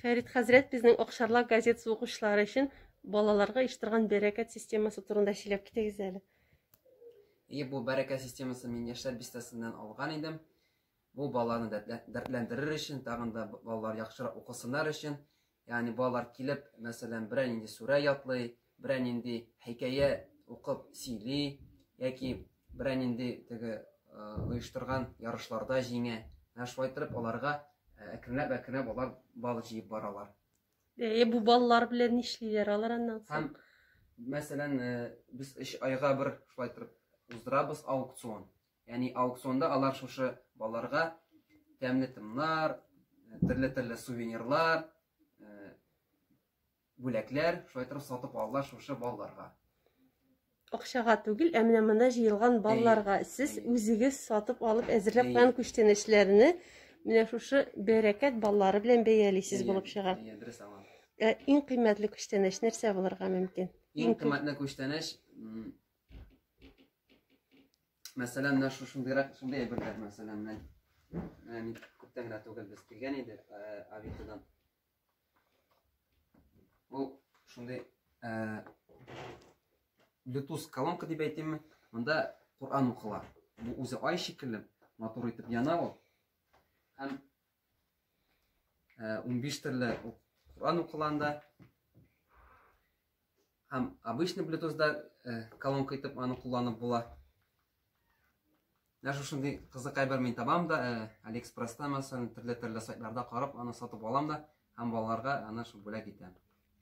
Фәрит хәзрәт безнең Акшарлак газетасы укучылары өчен балаларга оештырган бәрәкәт системасы турында сөйләп китегез әле. И бу бәрәкәт системасы мин яшьләр бистәсеннән алган идем. Бу баланы дәртләндерер өчен, тагын да балалар яхшырак укысыннар өчен. Ягъни балалар килеп, мәсәлән, берәр инде сүрә ятлый, берәр нинди хикәя укып сөйли яки берәр нинди теге оештырган ярышларда җиңә. Ә шулай итеп аларга әкренләп әкренләп алар бал җыеп баралар. Әйе, бу баллар белән нишлиләр алар аннан соң? Һәм мәсәлән, без эш айга бер шулай торып уздырабыз аукцион. Ягъни аукционда алар шушы балаларга тәмле тымнар, төрле-төрле сувенирлар, Бүләкләр, шулай итеп сатып алдылар шушы балларга. Акчага түгел, ә менә монда җыелган балларга сез үзегез сатып алып әзерләп куйган күчтәнәчләрне менә шушы бәрәкәт баллары белән бәялисез булып чыга. Дөрес аңлам. Ә иң кыйммәтле күчтәнәч нәрсә булырга мөмкин? Иң кыйммәтле күчтәнәч Мәсәлән, менә шушындыйрак шундый әйберләр, мәсәлән, менә күптән генә түгел без килгән идек, Авитодан. Бу шундый э, Bluetooth колонка дип әйтимме? Монда Коран укыла. Бу үзе ай шикелле, матур итеп яна ул. Һәм 15 төрле Коран укыланда һәм обычный Bluetooth-да колонка итеп аны кулланып була. Менә шушындый кызык әйбер мин табам да, э, Алиэкспресста мәсәлән, төрле-төрле сайтларда карап, аны сатып алам да һәм балаларга аны шул бүләк итәм.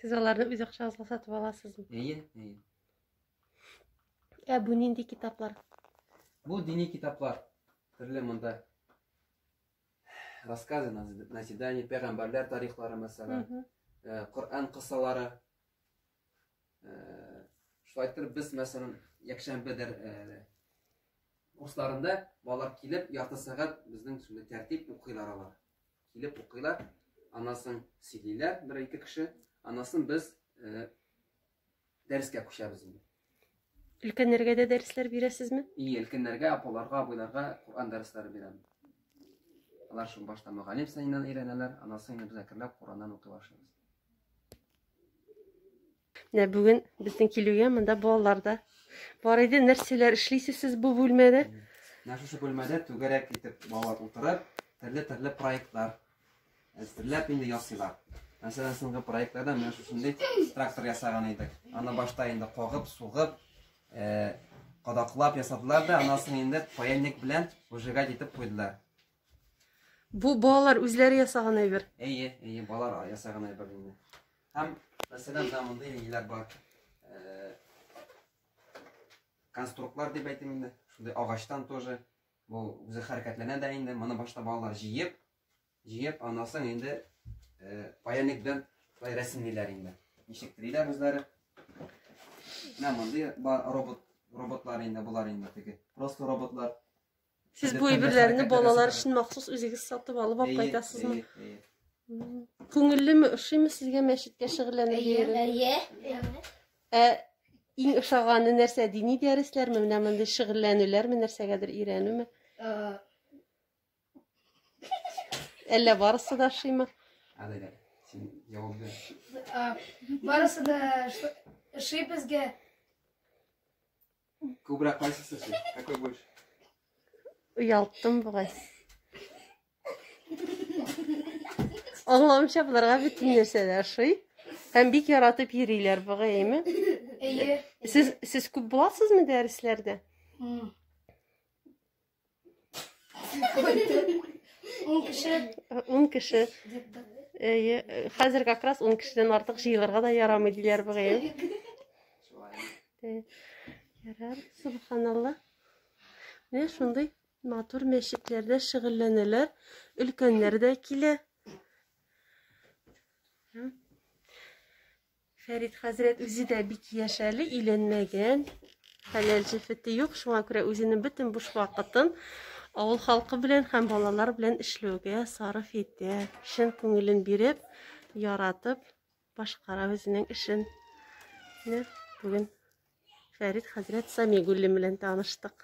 Сез аларны үз акчагызга сатып аласызмы? Әйе, әйе. Ә бу нинди китаплар? Бу дини китаплар. Төрле монда рассказы, назидание, пәйгамбәрләр тарихлары мәсәлән, э, Коръән кысалары, Шулай итеп без, мәсәлән, якшәмбе дәр курсларында балалар килеп, ярты сәгать безнең шундый тәртип укыйлар алар. Килеп укыйлар, анасын сөйлиләр бер-ике кеше, анасын без дәрескә күчәбез инде. Өлкәннәргә дә дәресләр бирәсезме? И, өлкәннәргә, апаларга, абыйларга Коръән дәресләре бирәм. Алар шул башта мөгаллим саеннан өйрәнәләр, аннан соң инде без әкренләп Коръәннән укый башлыйбыз. Менә бүген безнең килүгә монда балалар да бар иде. Нәрсәләр эшлисез сез бу бүлмәдә? Менә шушы бүлмәдә түгәрәк итеп балалар утырып, төрле-төрле проектлар Әзерләп инде ясыйлар. Мәсәлән, соңгы проектларда менә шушындый трактор ясаган идек. Аны башта инде кагып, сугып, э, кадаклап ясадылар да, аннан соң инде паяльник белән выжигать итеп куйдылар. Бу балалар үзләре ясаган әйбер. Әйе, әйе, балалар ясаган әйбер инде. Һәм мәсәлән, да мондый ниләр бар. Э, конструктлар дип әйтим инде. Шундый агачтан тоже Бу үзе хәрәкәтләнә дә инде. Моны башта балалар җыеп, җыеп, аннан соң инде паяльник белән шулай рәсемлиләр инде. Ничек телиләр үзләре. Менә мондый бар робот роботлар инде болар инде теге. Просто роботлар. Сез бу әйберләрне балалар өчен махсус үзегез сатып алып алып кайтасызмы? Күңеллеме, ошыймы сезгә мәчеткә шөгыльләнергә? Әйе, әйе. Ә иң ошаганы нәрсә? Дини дәресләрме, менә мондый шөгыльләнүләрме, нәрсәгәдер өйрәнүме? Әллә барысы да ошыймы? Әлегә син җавап бир. Барысы да ошый безгә. Күбрәк кайсы сәсе? Какой больше? Уялттым бугай. Аңламча боларга бөтен нәрсә дә ошый. Һәм бик яратып йөриләр бугай, әйме? Әйе. Сез сез күп буласызмы дәресләрдә? Ун кеше. Ун кеше. Әйе, хәзер как раз ун кешедән артык җыелырга да ярамый диләр бугай. Ярар, субханалла. Менә шундый матур мәчетләрдә шөгыльләнәләр, өлкәннәр дә килә. Фәрит хәзрәт үзе дә бик яшь әле, өйләнмәгән. Хәләл җефете юк, шуңа күрә үзенең бөтен буш вакытын авыл халкы белән һәм балалар белән эшләүгә сарыф итә. Чын күңелен биреп, яратып башкара үзенең эшен. Менә бүген Фәрит хәзрәт Самигуллин белән таныштык.